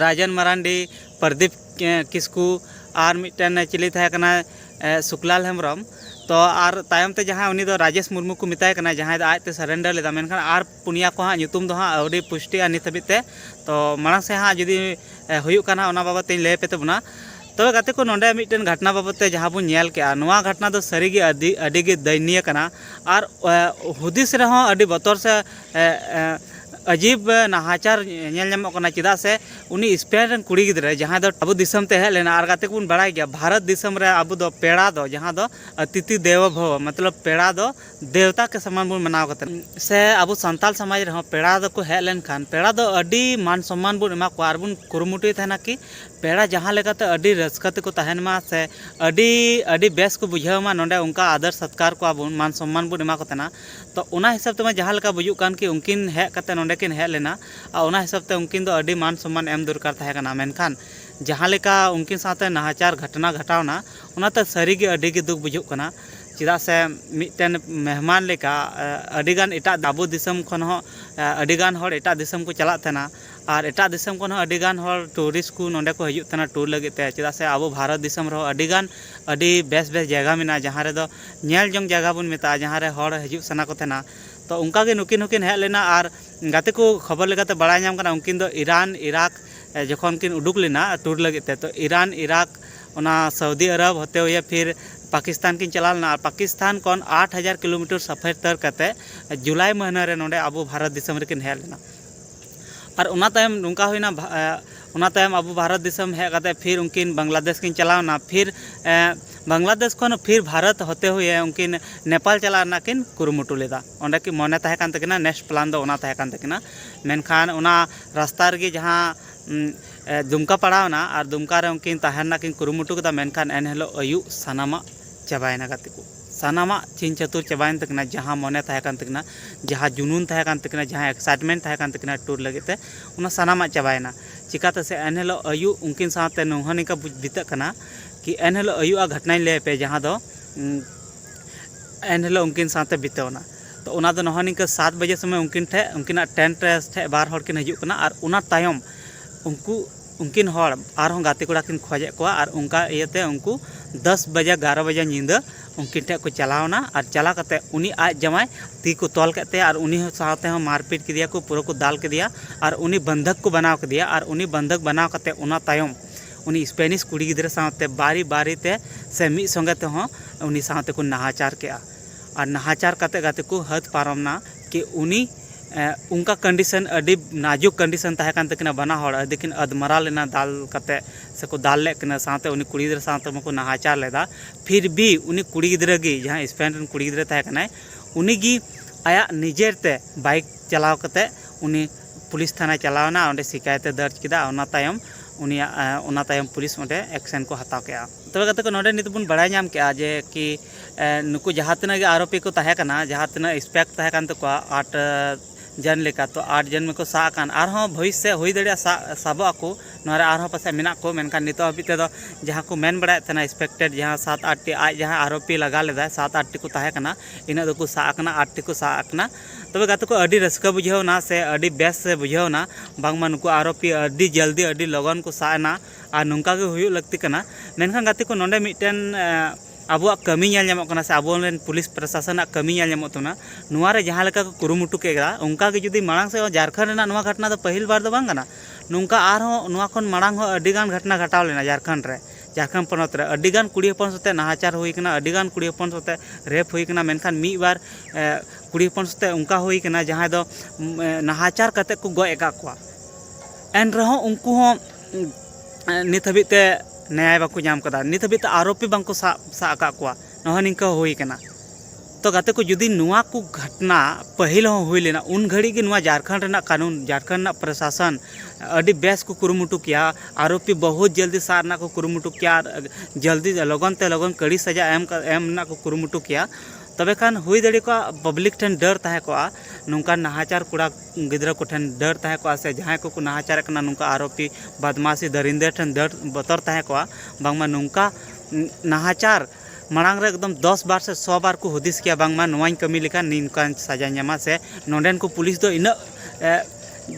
ᱨᱟᱡᱮᱱ ᱢᱟᱨᱟᱱᱰᱤ ᱯᱨᱚᱫᱤᱯ ᱠᱤᱥᱠᱩ ᱟᱨ ᱢᱤᱫᱴᱮᱱ ᱪᱤᱞᱤ ᱛᱟᱦᱮᱸ ᱠᱟᱱᱟᱭ ᱥᱩᱠᱞᱟᱞ ᱦᱮᱢᱵᱨᱚᱢ ᱛᱚ ᱟᱨ ᱛᱟᱭᱚᱢ ᱛᱮ ᱡᱟᱦᱟᱸᱭ ᱩᱱᱤ ᱫᱚ ᱨᱟᱡᱮᱥ ᱢᱩᱨᱢᱩ ᱠᱚ ᱢᱮᱛᱟᱭ ᱠᱟᱱᱟ ᱡᱟᱦᱟᱸᱭ ᱫᱚ ᱟᱡ ᱛᱮ ᱥᱟᱨᱮᱱᱰᱟᱨ ᱞᱮᱫᱟ ᱢᱮᱱᱠᱷᱟᱱ ᱟᱨ ᱯᱩᱱᱭᱟ ᱠᱚ ᱦᱟᱸᱜ ᱧᱩᱛᱩᱢ ᱫᱚ ᱦᱟᱸᱜ ᱟᱹᱣᱨᱤ ᱯᱩᱥᱴᱤᱜᱼᱟ ᱱᱤᱛ ᱦᱟᱹᱵᱤᱡ ᱛᱮ ᱛᱚ ᱢᱟᱲᱟᱝ ᱥᱮᱫ ᱦᱟᱸᱜ ᱡᱩᱫᱤ ᱦᱩᱭᱩᱜ ᱠᱷᱟᱱ ᱦᱟᱸᱜ ᱚᱱᱟ ᱵᱟᱵᱚᱫ ᱛᱤᱧ ᱞᱟᱹᱭ ᱟᱯᱮ ᱛᱟᱵᱚᱱᱟ ᱛᱚᱵᱮ ᱜᱟᱛᱮ ᱠᱚ ᱱᱚᱰᱮ ᱢᱤᱫᱴᱮᱱ ᱜᱷᱚᱴᱚᱱᱟ ᱵᱟᱵᱚᱫ ᱛᱮ ᱡᱟᱦᱟᱸ ᱵᱚᱱ ᱧᱮᱞ ᱠᱮᱜᱼᱟ ᱱᱚᱣᱟ ᱜᱷᱚᱴᱚᱱᱟ ᱫᱚ ᱥᱟᱹᱨᱤᱜᱮ ᱟᱹᱰᱤ ᱟᱹᱰᱤᱜᱮ ᱫᱟᱹᱭᱱᱤᱭᱚ ᱠᱟᱱᱟ ᱟᱨ ᱦᱩᱫᱤᱥ ᱨᱮᱦᱚᱸ ᱟᱹᱰᱤ ᱵᱚᱛᱚᱨ ᱥᱮ ᱟᱹᱡᱤᱵ ᱱᱟᱦᱟᱪᱟᱨ ᱧᱮᱞ ᱧᱟᱢᱚᱜ ᱠᱟᱱᱟ ᱪᱮᱫᱟᱜ ᱥᱮ ᱩᱱᱤ ᱥᱯᱮᱱ ᱨᱮᱱ ᱠᱩᱲᱤ ᱜᱤᱫᱽᱨᱟᱹ ᱡᱟᱦᱟᱸᱭ ᱫᱚ ᱟᱵᱚ ᱫᱤᱥᱚᱢ ᱛᱮ ᱦᱮᱡ ᱞᱮᱱᱟ ᱟᱨ ᱜᱟᱛᱮ ᱠᱚᱵᱚᱱ ᱵᱟᱲᱟᱭ ᱜᱮᱭᱟ ᱵᱷᱟᱨᱚᱛ ᱫᱤᱥᱚᱢ ᱨᱮ ᱟᱵᱚ ᱫᱚ ᱯᱮᱲᱟ ᱫᱚ ᱡᱟᱦᱟᱸ ᱫᱚ ᱚᱛᱤᱛᱷᱤ ᱫᱮᱵᱚ ᱵᱷᱚᱵᱚ ᱢᱚᱛᱞᱚᱵ ᱯᱮᱲᱟ ᱫᱚ ᱫᱮᱵᱽᱛᱟ ᱠᱮ ᱥᱚᱢᱟᱱ ᱵᱚᱱ ᱢᱟᱱᱟᱣ ᱠᱚ ᱛᱟᱦᱮᱸᱫ ᱥᱮ ᱟᱵᱚ ᱥᱟᱱᱛᱟᱲ ᱥᱚᱢᱟᱡᱽ ᱨᱮᱦᱚᱸ ᱯᱮᱲᱟ ᱫᱚᱠᱚ ᱦᱮᱡ ᱞᱮᱱᱠᱷᱟᱱ ᱯᱮᱲᱟ ᱫᱚ ᱟᱹᱰᱤ ᱢᱟᱱ ᱥᱚᱱᱢᱟᱱ ᱵᱚᱱ ᱮᱢᱟ ᱠᱚᱣᱟ ᱟᱨ ᱵᱚᱱ ᱠᱩᱨᱩᱢᱩᱴᱩᱭ ᱛᱟᱦᱮᱱᱟ ᱠᱤ ᱯᱮᱲᱟ ᱡᱟᱦᱟᱸ ᱞᱮᱠᱟᱛᱮ ᱟᱹᱰᱤ ᱨᱟᱹᱥᱠᱟᱹ ᱛᱮᱠᱚ ᱛᱟᱦᱮᱱ ᱢᱟ ᱥᱮ ᱟᱹᱰᱤ ᱟᱹᱰᱤ ᱵᱮᱥ ᱠᱚ ᱵᱩᱡᱷᱟᱹᱣ ᱢᱟ ᱱᱚᱰᱮ ᱚᱱᱠᱟ ᱟᱫᱚᱨ ᱥᱚᱛᱠᱟᱨ ᱠᱚᱣᱟ ᱵᱚᱱ ᱢᱟᱱ ᱥᱚᱱᱢᱟᱱ ᱵᱚᱱ ᱮᱢᱟ ᱠᱚ ᱛᱟᱦᱮᱱᱟ ᱛᱚ ᱚᱱᱟ ᱦᱤᱥᱟᱹᱵ ᱛᱮᱢᱟ ᱡᱟᱦᱟᱸ ᱞᱮᱠᱟ ᱵᱩᱡᱩᱜ ᱠᱟᱱ ᱠᱤ ᱩᱱᱠᱤᱱ ᱦᱮᱡ ᱠᱟᱛᱮ ᱱᱚᱰᱮ ᱠᱤᱱ ᱦᱮᱡ ᱞᱮᱱᱟ ᱟᱨ ᱚᱱᱟ ᱦᱤᱥᱟᱹᱵ ᱛᱮ ᱩᱱᱠᱤᱱ ᱫᱚ ᱟᱹᱰᱤ ᱢᱟᱱ ᱥᱚᱱᱢᱟᱱ ᱮᱢ ᱫᱚᱨᱠᱟᱨ ᱛᱟᱦᱮᱸ ᱠᱟᱱᱟ ᱢᱮᱱᱠᱷᱟᱱ ᱡᱟᱦᱟᱸ ᱞᱮᱠᱟ ᱩᱱᱠᱤᱱ ᱥᱟᱶᱛᱮ ᱱᱟᱦᱟᱪᱟᱨ ᱜᱷᱚᱴᱚᱱᱟ ᱜᱷᱚᱴᱟᱣᱱᱟ ᱚᱱᱟᱛᱮ ᱥᱟᱹᱨᱤ ᱜᱮ ᱟᱹᱰᱤ ᱜᱮ ᱫᱩᱠ ᱵᱩᱡᱷᱟᱹᱜ ᱠᱟᱱᱟ ᱪᱮᱫᱟᱜ ᱥᱮ ᱢᱤᱫᱴᱮᱱ ᱢᱮᱦᱢᱟᱱ ᱞᱮᱠᱟ ᱟᱹᱰᱤ ᱜᱟᱱ ᱮᱴᱟᱜ ᱟᱵᱚ ᱫᱤᱥᱚᱢ ᱠᱷᱚᱱ ᱦᱚᱸ ᱟᱹᱰᱤ ᱜᱟᱱ ᱦᱚᱲ ᱮᱴᱟᱜ ᱫᱤᱥᱚᱢ ᱠᱚ ᱪᱟᱞᱟᱜ ᱛᱟᱦᱮᱱᱟ ᱟᱨ ᱮᱴᱟᱜ ᱫᱤᱥᱚᱢ ᱠᱷᱚᱱ ᱦᱚᱸ ᱟᱹᱰᱤ ᱜᱟᱱ ᱦᱚᱲ ᱴᱩᱨᱤᱥᱴ ᱠᱚ ᱱᱚᱰᱮ ᱠᱚ ᱦᱤᱡᱩᱜ ᱛᱟᱦᱮᱱᱟ ᱴᱩᱨ ᱞᱟᱹᱜᱤᱫ ᱛᱮ ᱪᱮᱫᱟᱜ ᱥᱮ ᱟᱵᱚ ᱵᱷᱟᱨᱚᱛ ᱫᱤᱥᱚᱢ ᱨᱮᱦᱚᱸ ᱟᱹᱰᱤ ᱜᱟᱱ ᱟᱹᱰᱤ ᱵᱮᱥ ᱵᱮᱥ ᱡᱟᱭᱜᱟ ᱢᱮᱱᱟᱜᱼᱟ ᱡᱟᱦᱟᱸ ᱨᱮᱫᱚ ᱧᱮᱞ ᱡᱚᱝ ᱡᱟᱭᱜᱟ ᱵᱚᱱ ᱢᱮᱛᱟᱜᱼᱟ ᱡᱟᱦᱟᱸ ᱨᱮ ᱦᱚᱲ ᱦᱤᱡᱩᱜ ᱥᱟᱱᱟ ᱠᱚ ᱛᱟᱦᱮᱱᱟ ᱛᱚ ᱚᱱᱠᱟ ᱜᱮ ᱱᱩᱠᱤᱱ ᱦᱚᱸᱠᱤᱱ ᱦᱮᱡ ᱞᱮᱱᱟ ᱟᱨ ᱜᱟᱛᱮ ᱠᱚ ᱠᱷᱚᱵᱚᱨ ᱞᱮᱠᱟᱛᱮ ᱵᱟᱲᱟᱭ ᱧᱟᱢ ᱠᱟᱱᱟ ᱩᱱᱠᱤᱱ ᱫᱚ ᱤᱨᱟᱱ ᱤᱨᱟᱠ ᱡᱚᱠᱷᱚᱱ ᱠᱤᱱ ᱩᱰᱩᱠ ᱞᱮᱱᱟ ᱴᱩᱨ ᱞᱟᱹᱜᱤᱫ ᱛᱮ ᱛᱚ ᱤᱨᱟᱱ ᱤᱨᱟᱠ ᱚᱱᱟ ᱥᱳᱣᱫᱤ ᱟᱨᱚᱵᱽ ᱦᱚᱛᱮ ᱦᱩᱭᱮ ᱯᱷᱤᱨ ᱯᱟᱠᱤᱥᱛᱟᱱ ᱠᱤᱱ ᱪᱟᱞᱟᱣ ᱞᱮᱱᱟ ᱟᱨ ᱯᱟᱠᱤᱥᱛᱟᱱ ᱠᱷᱚᱱ ᱟᱴ ᱦᱟᱡᱟᱨ ᱠᱤᱞᱳᱢᱤᱴᱟᱨ ᱥᱟᱯᱷᱮᱨ ᱛᱟᱹᱨ ᱠᱟᱛᱮᱫ ᱡᱩᱞᱟᱭ ᱢᱟᱹᱦᱱᱟᱹ ᱨᱮ ᱱᱚᱰᱮ ᱟᱵᱚ ᱵᱷᱟᱨᱚᱛ ᱫᱤᱥᱚᱢ ᱨᱮᱠᱤᱱ ᱦᱮᱡ ᱞᱮᱱᱟ ᱟᱨ ᱚᱱᱟ ᱛᱟᱭᱚᱢ ᱱᱚᱝᱠᱟ ᱦᱩᱭᱱᱟ ᱚᱱᱟ ᱛᱟᱭᱚᱢ ᱟᱵᱚ ᱵᱷᱟᱨᱚᱛ ᱫᱤᱥᱚᱢ ᱦᱮᱡ ᱠᱟᱛᱮᱫ ᱯᱷᱤᱨ ᱩᱱᱠᱤᱱ ᱵᱟᱝᱞᱟᱫᱮᱥ ᱠᱤᱱ ᱪᱟᱞᱟᱣᱱᱟ ᱯᱷᱤᱨ ᱵᱟᱝᱞᱟᱫᱮᱥ ᱠᱷᱚᱱ ᱯᱷᱤᱨ ᱵᱷᱟᱨᱚᱛ ᱦᱚᱛᱮ ᱦᱩᱭᱮ ᱩᱱᱠᱤᱱ ᱱᱮᱯᱟᱞ ᱪᱟᱞᱟᱜ ᱨᱮᱱᱟᱜ ᱠᱤᱱ ᱠᱩᱨᱩᱢᱩᱴᱩ ᱞᱮᱫᱟ ᱚᱸᱰᱮ ᱠᱤᱱ ᱢᱚᱱᱮ ᱛᱟᱦᱮᱸ ᱠᱟᱱ ᱛᱟᱹᱠᱤᱱᱟ ᱱᱮᱠᱥᱴ ᱯᱞᱟᱱ ᱫᱚ ᱚᱱᱟ ᱛᱟᱦᱮᱸ ᱠᱟᱱ ᱛᱟᱹᱠᱤᱱᱟ ᱢᱮᱱᱠᱷᱟᱱ ᱚᱱᱟ ᱨᱟᱥᱛᱟ ᱨᱮᱜᱮ ᱡᱟᱦᱟᱸ ᱫᱩᱢᱠᱟ ᱯᱟᱲᱟᱣᱱᱟ ᱟᱨ ᱫᱩᱢᱠᱟ ᱨᱮ ᱩᱱᱠᱤᱱ ᱛᱟᱦᱮᱱ ᱨᱮᱱᱟᱜ ᱠᱤᱱ ᱠᱩᱨᱩᱢᱩᱴᱩ ᱠᱮᱫᱟ ᱢᱮᱱᱠᱷᱟᱱ ᱮᱱ ᱦᱤᱞᱳᱜ ᱟᱹᱭᱩᱵ ᱥᱟᱱᱟᱢᱟᱜ ᱪᱟᱵᱟᱭᱮᱱᱟ ᱜᱟᱛᱮ ᱠᱚ ᱥᱟᱱᱟᱢᱟᱜ ᱪᱷᱤᱝ ᱪᱷᱟᱹᱛᱩᱨ ᱪᱟᱵᱟᱭᱮᱱ ᱛᱟᱹᱠᱤᱱᱟ ᱡᱟᱦᱟᱸ ᱢᱚᱱᱮ ᱛᱟᱦᱮᱸ ᱠᱟᱱ ᱛᱟᱹᱠᱤᱱᱟ ᱡᱟᱦᱟᱸ ᱡᱩᱱᱩᱱ ᱛᱟᱦᱮᱸ ᱠᱟᱱ ᱛᱟᱹᱠᱤᱱᱟ ᱡᱟᱦᱟᱸ ᱮᱠᱥᱟᱭᱤᱴᱢᱮᱱᱴ ᱛᱟᱦᱮᱸ ᱠᱟᱱ ᱛᱟᱹᱠᱤᱱᱟ ᱴᱩᱨ ᱞᱟᱹᱜᱤᱫ ᱛᱮ ᱚᱱᱟ ᱥᱟᱱᱟᱢᱟᱜ ᱪᱟᱵᱟᱭᱮᱱᱟ ᱪᱤᱠᱟᱹᱛᱮ ᱥᱮ ᱮᱱ ᱦᱤᱞᱳᱜ ᱟᱹᱭᱩᱵ ᱩᱱᱠᱤᱱ ᱥᱟᱶᱛᱮ ᱱᱚᱝᱠᱟ ᱱᱚᱝᱠᱟ ᱵᱤᱛᱟᱹᱜ ᱠᱟᱱᱟ ᱠᱤ ᱮᱱ ᱦᱤᱞᱳᱜ ᱟᱹᱭᱩᱵ ᱟᱜ ᱜᱷᱚᱴᱚᱱᱟᱧ ᱞᱟᱹᱭ ᱟᱯᱮᱭᱟ ᱡᱟᱦᱟᱸ ᱫᱚ ᱮᱱ ᱦᱤᱞᱳᱜ ᱩᱱᱠᱤᱱ ᱥᱟᱶᱛᱮ ᱵᱤᱛᱟᱹᱣ ᱮᱱᱟ ᱛᱚ ᱚᱱᱟ ᱫᱚ ᱱᱚᱜᱼᱚᱭ ᱱᱤᱝᱠᱟᱹ ᱥᱟᱛ ᱵᱟᱡᱮ ᱥᱚᱢᱚᱭ ᱩᱱᱠᱤᱱ ᱴᱷᱮᱱ ᱩᱱᱠᱤᱱᱟᱜ ᱴᱮᱱᱴ ᱨᱮ ᱥᱮ ᱵᱟᱨ ᱦᱚᱲ ᱠᱤᱱ ᱦᱤᱡᱩᱜ ᱠᱟᱱᱟ ᱟᱨ ᱚᱱᱟ ᱛᱟᱭᱚᱢ ᱩᱱᱠᱩ ᱩᱱᱠᱤᱱ ᱦᱚᱲ ᱟᱨᱦᱚᱸ ᱜᱟᱛᱮ ᱠᱚᱲᱟ ᱠᱤᱱ ᱠᱷᱚᱡᱮᱫ ᱠᱚᱣᱟ ᱟᱨ ᱚᱱᱠᱟ ᱤᱭᱟᱹᱛᱮ ᱩᱱᱠᱩ ᱫᱚᱥ ᱵᱟᱡᱮ ᱮᱜᱟᱨᱚ ᱵᱟᱡᱮ ᱧᱤᱫᱟᱹ ᱩᱱᱠᱤᱱ ᱴᱷᱮᱱ ᱠᱚ ᱪᱟᱞᱟᱣᱱᱟ ᱟᱨ ᱪᱟᱞᱟᱣ ᱠᱟᱛᱮᱫ ᱩᱱᱤ ᱟᱡ ᱡᱟᱶᱟᱭ ᱛᱤ ᱠᱚ ᱛᱚᱞ ᱠᱮᱫ ᱛᱟᱭᱟ ᱟᱨ ᱩᱱᱤ ᱦᱚᱸ ᱥᱟᱶᱛᱮ ᱦᱚᱸ ᱢᱟᱨ ᱯᱤᱴ ᱠᱮᱫᱮᱭᱟ ᱠᱚ ᱯᱩᱨᱟᱹ ᱠᱚ ᱫᱟᱞ ᱠᱮᱫᱮᱭᱟ ᱟᱨ ᱩᱱᱤ ᱵᱚᱱᱫᱷᱚᱠ ᱠᱚ ᱵᱮᱱᱟᱣ ᱠᱮᱫᱮᱭᱟ ᱟᱨ ᱩᱱᱤ ᱵᱚᱱᱫᱷᱚᱠ ᱵᱮᱱᱟᱣ ᱠᱟᱛᱮᱫ ᱚᱱᱟ ᱛᱟᱭᱚᱢ ᱩᱱᱤ ᱥᱯᱮᱱᱤᱥ ᱠᱩᱲᱤ ᱜᱤᱫᱽᱨᱟᱹ ᱥᱟᱶᱛᱮ ᱵᱟᱨᱮ ᱵᱟᱨᱮ ᱛᱮ ᱥᱮ ᱢᱤᱫ ᱥᱚᱸᱜᱮ ᱛᱮᱦᱚᱸ ᱩᱱᱤ ᱥᱟᱶᱛᱮ ᱠᱚ ᱱᱟᱦᱟᱪᱟᱨ ᱠᱮᱫᱼᱟ ᱟᱨ ᱱᱟᱦᱟᱪᱟᱨ ᱠᱟᱛᱮ ᱜᱟᱛᱮ ᱠᱚ ᱦᱟᱹᱛ ᱯᱟᱨᱚᱢ ᱮᱱᱟ ᱠᱤ ᱩᱱᱤ ᱚᱱᱠᱟ ᱠᱚᱱᱰᱤᱥᱚᱱ ᱟᱹᱰᱤ ᱱᱟᱡᱩᱠ ᱠᱚᱱᱰᱤᱥᱚᱱ ᱛᱟᱦᱮᱸ ᱠᱟᱱ ᱛᱟᱹᱠᱤᱱᱟ ᱵᱟᱱᱟ ᱦᱚᱲ ᱟᱹᱰᱤ ᱠᱤᱱ ᱟᱫᱽᱢᱟᱨᱟᱣ ᱞᱮᱱᱟ ᱫᱟᱞ ᱠᱟᱛᱮ ᱥᱮᱠᱚ ᱫᱟᱞ ᱞᱮᱫ ᱠᱤᱱᱟ ᱥᱟᱶᱛᱮ ᱩᱱᱤ ᱠᱩᱲᱤ ᱜᱤᱫᱽᱨᱟᱹ ᱥᱟᱶ ᱛᱮᱦᱚᱸ ᱠᱚ ᱱᱟᱦᱟᱪᱟᱨ ᱞᱮᱫᱟ ᱯᱷᱤᱨ ᱵᱷᱤ ᱩᱱᱤ ᱠᱩᱲᱤ ᱜᱤᱫᱽᱨᱟᱹ ᱜᱮ ᱡᱟᱦᱟᱸᱭ ᱥᱯᱮᱱ ᱨᱮᱱ ᱠᱩᱲᱤ ᱜᱤᱫᱽᱨᱟᱹ ᱛᱟᱦᱮᱸ ᱠᱟᱱᱟᱭ ᱩᱱᱤ ᱜᱮ ᱟᱭᱟᱜ ᱱᱤᱡᱮᱨ ᱛᱮ ᱵᱟᱭᱤᱠ ᱪᱟᱞᱟᱣ ᱠᱟᱛᱮ ᱩᱱᱤ ᱯᱩᱞᱤᱥ ᱛᱷᱟᱱᱟᱭ ᱪᱟᱞᱟᱣ ᱮᱱᱟ ᱚᱸᱰᱮ ᱥᱤᱠᱟᱭᱚᱛ ᱮ ᱫᱚᱨᱡᱽ ᱠᱮᱫᱟ ᱚᱱᱟ ᱛᱟᱭᱚᱢ ᱩᱱᱤᱭᱟᱜ ᱚᱱᱟ ᱛᱟᱭᱚᱢ ᱯᱩᱞᱤᱥ ᱚᱸᱰᱮ ᱮᱠᱥᱮᱱ ᱠᱚ ᱦᱟᱛᱟᱣ ᱠᱮᱫᱼᱟ ᱛᱚᱵᱮ ᱜᱟᱛᱮ ᱠᱚ ᱱᱚᱰᱮ ᱱᱤᱛ ᱵᱚᱱ ᱵᱟᱲᱟᱭ ᱧᱟᱢ ᱠᱮᱫᱼᱟ ᱡᱮ ᱠᱤ ᱱᱩᱠᱩ ᱡᱟᱦᱟᱸ ᱛᱤᱱᱟᱹᱜ ᱜᱮ ᱟᱨᱳᱯᱤ ᱠᱚ ᱛᱟᱦᱮᱸ ᱠᱟᱱᱟ ᱡᱟᱦᱟᱸ ᱛᱤᱱᱟᱹᱜ ᱥᱯᱮᱠ ᱛᱟᱦᱮᱸ ᱠᱟᱱ ᱛᱟᱠᱚᱣᱟ ᱟᱴ ᱡᱚᱱ ᱞᱮᱠᱟ ᱛᱚ ᱟᱴ ᱡᱚᱱ ᱢᱟᱠᱚ ᱥᱟᱵ ᱟᱠᱟᱱ ᱟᱨᱦᱚᱸ ᱵᱷᱚᱵᱤᱥᱥᱚ ᱦᱩᱭ ᱫᱟᱲᱮᱭᱟᱜᱼᱟ ᱥᱟᱵ ᱥᱟᱵᱚᱜ ᱟᱠᱚ ᱱᱚᱣᱟ ᱨᱮ ᱟᱨᱦᱚᱸ ᱯᱟᱥᱮᱡ ᱢᱮᱱᱟᱜ ᱠᱚ ᱢᱮᱱᱠᱷᱟᱱ ᱱᱤᱛᱚᱜ ᱦᱟᱹᱵᱤᱡ ᱛᱮᱫᱚ ᱡᱟᱦᱟᱸ ᱠᱚ ᱢᱮᱱ ᱵᱟᱲᱟᱭᱮᱫ ᱛᱟᱦᱮᱱᱟ ᱥᱯᱮᱠᱴᱮᱰ ᱡᱟᱦᱟᱸ ᱥᱟᱛ ᱟᱴ ᱴᱤ ᱟᱡ ᱡᱟᱦᱟᱸ ᱟᱨᱳᱯᱤ ᱞᱟᱜᱟ ᱞᱮᱫᱟᱭ ᱥᱟᱛ ᱟᱴ ᱴᱤ ᱠᱚ ᱛᱟᱦᱮᱸ ᱠᱟᱱᱟ ᱤᱱᱟᱹᱜ ᱫᱚᱠᱚ ᱥᱟᱵ ᱟᱠᱟᱱᱟ ᱟᱴ ᱴᱤ ᱠᱚ ᱥᱟᱵ ᱟᱠᱟᱱᱟ ᱛᱚᱵᱮ ᱜᱟᱛᱮ ᱠᱚ ᱟᱹᱰᱤ ᱨᱟᱹᱥᱠᱟᱹ ᱵᱩᱡᱷᱟᱹᱣ ᱮᱱᱟ ᱥᱮ ᱟᱹᱰᱤ ᱵᱮᱥ ᱵᱩᱡᱷᱟᱹᱣ ᱮᱱᱟ ᱵᱟᱝᱢᱟ ᱱᱩᱠᱩ ᱟᱨᱳᱯᱤ ᱟᱹᱰᱤ ᱡᱚᱞᱫᱤ ᱟᱹᱰᱤ ᱞᱚᱜᱚᱱ ᱠᱚ ᱥᱟᱵ ᱮᱱᱟ ᱟᱨ ᱱᱚᱝᱠᱟ ᱜᱮ ᱦᱩᱭᱩᱜ ᱞᱟᱹᱠᱛᱤ ᱠᱟᱱᱟ ᱢᱮᱱᱠᱷᱟᱱ ᱜᱟᱛᱮ ᱠᱚ ᱱᱚᱰᱮ ᱢᱤᱫᱴᱮᱱ ᱟᱵᱚᱣᱟᱜ ᱠᱟᱹᱢᱤ ᱧᱮᱞ ᱧᱟᱢᱚᱜ ᱠᱟᱱᱟ ᱥᱮ ᱟᱵᱚ ᱨᱮᱱ ᱯᱩᱞᱤᱥ ᱯᱨᱚᱥᱟᱥᱚᱱ ᱟᱜ ᱠᱟᱹᱢᱤ ᱧᱮᱞ ᱧᱟᱢᱚᱜ ᱛᱟᱵᱚᱱᱟ ᱱᱚᱣᱟ ᱨᱮ ᱡᱟᱦᱟᱸ ᱞᱮᱠᱟ ᱠᱚ ᱠᱩᱨᱩᱢᱩᱴᱩ ᱠᱮᱫᱟ ᱚᱱᱠᱟ ᱜᱮ ᱡᱩᱫᱤ ᱢᱟᱲᱟᱝ ᱥᱮᱫ ᱦᱚᱸ ᱡᱷᱟᱲᱠᱷᱚᱸᱰ ᱨᱮᱱᱟᱜ ᱱᱚᱣᱟ ᱜᱷᱚᱴᱚᱱᱟ ᱫᱚ ᱯᱟᱹᱦᱤᱞ ᱵᱟᱨ ᱫᱚ ᱵᱟᱝ ᱠᱟᱱᱟ ᱱᱚᱝᱠᱟ ᱟᱨ ᱦᱚᱸ ᱱᱚᱣᱟ ᱠᱷᱚᱱ ᱢᱟᱲᱟᱝ ᱦᱚᱸ ᱟᱹᱰᱤ ᱜᱟᱱ ᱜᱷᱚᱴᱚᱱᱟ ᱜᱷᱚᱴᱟᱣ ᱞᱮᱱᱟ ᱡᱷᱟᱲᱠᱷᱚᱸᱰ ᱨᱮ ᱡᱷᱟᱲᱠᱷᱚᱸᱰ ᱯᱚᱱᱚᱛ ᱨᱮ ᱟᱹᱰᱤ ᱜᱟᱱ ᱠᱩᱲᱤ ᱦᱚᱯᱚᱱ ᱥᱟᱛᱮᱜ ᱱᱟᱦᱟᱪᱟᱨ ᱦᱩᱭ ᱠᱟᱱᱟ ᱟᱹᱰᱤ ᱜᱟᱱ ᱠᱩᱲᱤ ᱦᱚᱯᱚᱱ ᱥᱟᱛᱮᱜ ᱨᱮᱯ ᱦᱩᱭ ᱠᱟᱱᱟ ᱢᱮᱱᱠᱷᱟᱱ ᱢᱤᱫ ᱵᱟᱨ ᱠᱩᱲᱤ ᱦᱚᱯᱚᱱ ᱥᱟᱛᱮᱜ ᱚᱱᱠᱟ ᱦᱩᱭ ᱠᱟᱱᱟ ᱡᱟᱦᱟᱸᱭ ᱫᱚ ᱱᱟᱦᱟᱪᱟᱨ ᱠᱟᱛᱮᱜ ᱠᱚ ᱜᱚᱡ ᱟᱠᱟᱫ ᱠᱚᱣᱟ ᱮᱱ ᱨᱮᱦᱚᱸ ᱩᱱᱠᱩ ᱦᱚᱸ ᱱᱤᱛ ᱦᱟᱹᱵᱤᱡ ᱛᱮ ᱱᱮᱭᱟᱭ ᱵᱟᱠᱚ ᱧᱟᱢ ᱠᱟᱫᱟ ᱱᱤᱛ ᱦᱟᱹᱵᱤᱡ ᱛᱮ ᱟᱨᱳᱯᱤ ᱵᱟᱝᱠᱚ ᱥᱟᱵ ᱥᱟᱵ ᱟᱠᱟᱫ ᱠᱚᱣᱟ ᱱᱚᱜᱼᱚᱭ ᱱᱤᱝᱠᱟᱹ ᱦᱩᱭ ᱠᱟᱱᱟ ᱛᱚ ᱜᱟᱛᱮ ᱠᱚ ᱡᱩᱫᱤ ᱱᱚᱣᱟ ᱠᱚ ᱜᱷᱚᱴᱚᱱᱟ ᱯᱟᱹᱦᱤᱞ ᱦᱚᱸ ᱦᱩᱭ ᱞᱮᱱᱟ ᱩᱱ ᱜᱷᱟᱹᱲᱤᱡ ᱜᱮ ᱱᱚᱣᱟ ᱡᱷᱟᱲᱠᱷᱚᱸᱰ ᱨᱮᱱᱟᱜ ᱠᱟᱹᱱᱩᱱ ᱡᱷᱟᱲᱠᱷᱚᱸᱰ ᱨᱮᱱᱟᱜ ᱯᱨᱚᱥᱟᱥᱚᱱ ᱟᱹᱰᱤ ᱵᱮᱥ ᱠᱚ ᱠᱩᱨᱩᱢᱩᱴᱩ ᱠᱮᱭᱟ ᱟᱨᱳᱯᱤ ᱵᱚᱦᱩᱛ ᱡᱚᱞᱫᱤ ᱥᱟᱵ ᱨᱮᱱᱟᱜ ᱠᱚ ᱠᱩᱨᱩᱢᱩᱴᱩ ᱠᱮᱭᱟ ᱟᱨ ᱡᱚᱞᱫᱤ ᱞᱚᱜᱚᱱ ᱛᱮ ᱞᱚᱜᱚᱱ ᱠᱟᱹᱲᱤ ᱥᱟᱡᱟ ᱮᱢ ᱮᱢ ᱨᱮᱱᱟᱜ ᱠᱚ ᱠᱩᱨᱩᱢᱩᱴᱩ ᱠᱮᱭᱟ ᱛᱚᱵᱮ ᱠᱷᱟᱱ ᱦᱩᱭ ᱫᱟᱲᱮ ᱠᱚᱜᱼᱟ ᱯᱟᱵᱽᱞᱤᱠ ᱴᱷᱮᱱ ᱰᱟᱹᱨ ᱛᱟᱦᱮᱸ ᱠᱚᱜᱼᱟ ᱱᱚᱝᱠᱟᱱ ᱱᱟᱦᱟᱪᱟᱨ ᱠᱚᱲᱟ ᱜᱤᱫᱽᱨᱟᱹ ᱠᱚ ᱴᱷᱮᱱ ᱰᱟᱹᱨ ᱛᱟᱦᱮᱸ ᱠᱚᱜᱼᱟ ᱥᱮ ᱡᱟᱦᱟᱸᱭ ᱠᱚᱠᱚ ᱱᱟᱦᱟᱪᱟᱨᱮᱫ ᱠᱟᱱᱟ ᱱᱚᱝᱠᱟ ᱟᱨᱳᱯᱤ ᱵᱟᱫᱽᱢᱟᱥᱤ ᱫᱟᱹᱨᱤᱱᱫᱟᱹ ᱴᱷᱮᱱ ᱰᱟᱹᱨ ᱵᱚᱛᱚᱨ ᱛᱟᱦᱮᱸ ᱠᱚᱜᱼᱟ ᱵᱟᱝᱢᱟ ᱱᱚᱝᱠᱟ ᱱᱟᱦᱟᱪᱟᱨ ᱢᱟᱲᱟᱝ ᱨᱮ ᱮᱠᱫᱚᱢ ᱫᱚᱥ ᱵᱟᱨ ᱥᱮ ᱥᱚ ᱵᱟᱨ ᱠᱚ ᱦᱩᱫᱤᱥ ᱠᱮᱭᱟ ᱵᱟᱝᱢᱟ ᱱᱚᱣᱟᱧ ᱠᱟᱹᱢᱤ ᱞᱮᱠᱷᱟᱱ ᱱᱤᱝᱠᱟᱹᱧ ᱥᱟᱡᱟᱧ ᱧᱟᱢᱟ ᱥᱮ ᱱᱚᱰᱮᱱ ᱠᱚ ᱯᱩᱞᱤᱥ ᱫᱚ ᱤᱱᱟᱹᱜ